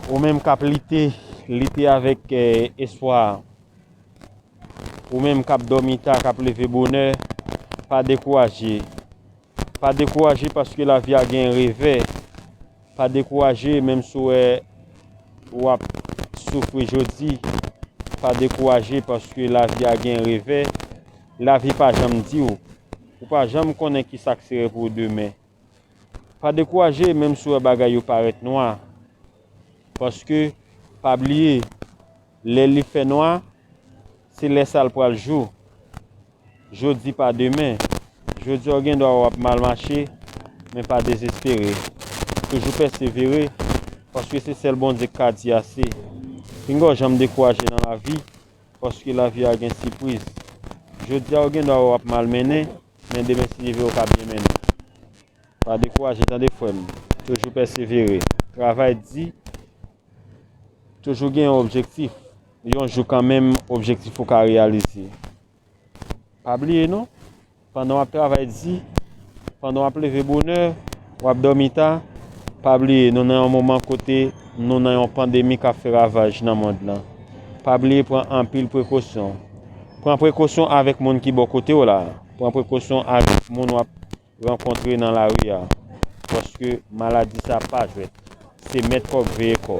Ou menm kap lite, lite avèk espwa. Ou menm kap dòmi ta, kap leve bonè, pa dekouraje. Pa dekouraje paske lavi a gen revè. Pa dekouraje menm si w wè ou ap soufri jodi. Pa dekouraje paske lavi a gen revè. Lavi pa janm di w. Ou pa janm konnen ki sa k sere pou w demen. Pa dekouraje menm si w wè bagay yo parèt nwa, paske pa bliye lè li fè nwa se lè sa l pral jou. Jodi pa demen, jodi a w gen dwa wè w ap mal mache men pa dezespere, toujou pèsevere paske se sèl Bondye k ka di ase. Pinga w janm dekouraje nan lavi paske lavi a gen sipriz. Jodi a w gen dwa wè w ap mal mennen Men demen si Dieu vle ou ka byen mennen. Pa dekouraje tande frèm, toujou pèsevere, travay di, toujou gen yon objektif, yon jou kanmenm objektif ou ka reyalize. Pa bliye non, pandan wap travay di, pandan wap leve bonè, Wap dòmi ta? Pa bliye nou nan yon moman kote nou nan yon pandemi kap fè ravaj nan mond lan. Pa bliye pran anpil prekosyon. Pran prekosyon avèk moun ki bò kotew la, pran prekosyon avèk moun wap rankontre nan lari a. Paske maladi sa pa jwèt. Se mèt kòk veye kò.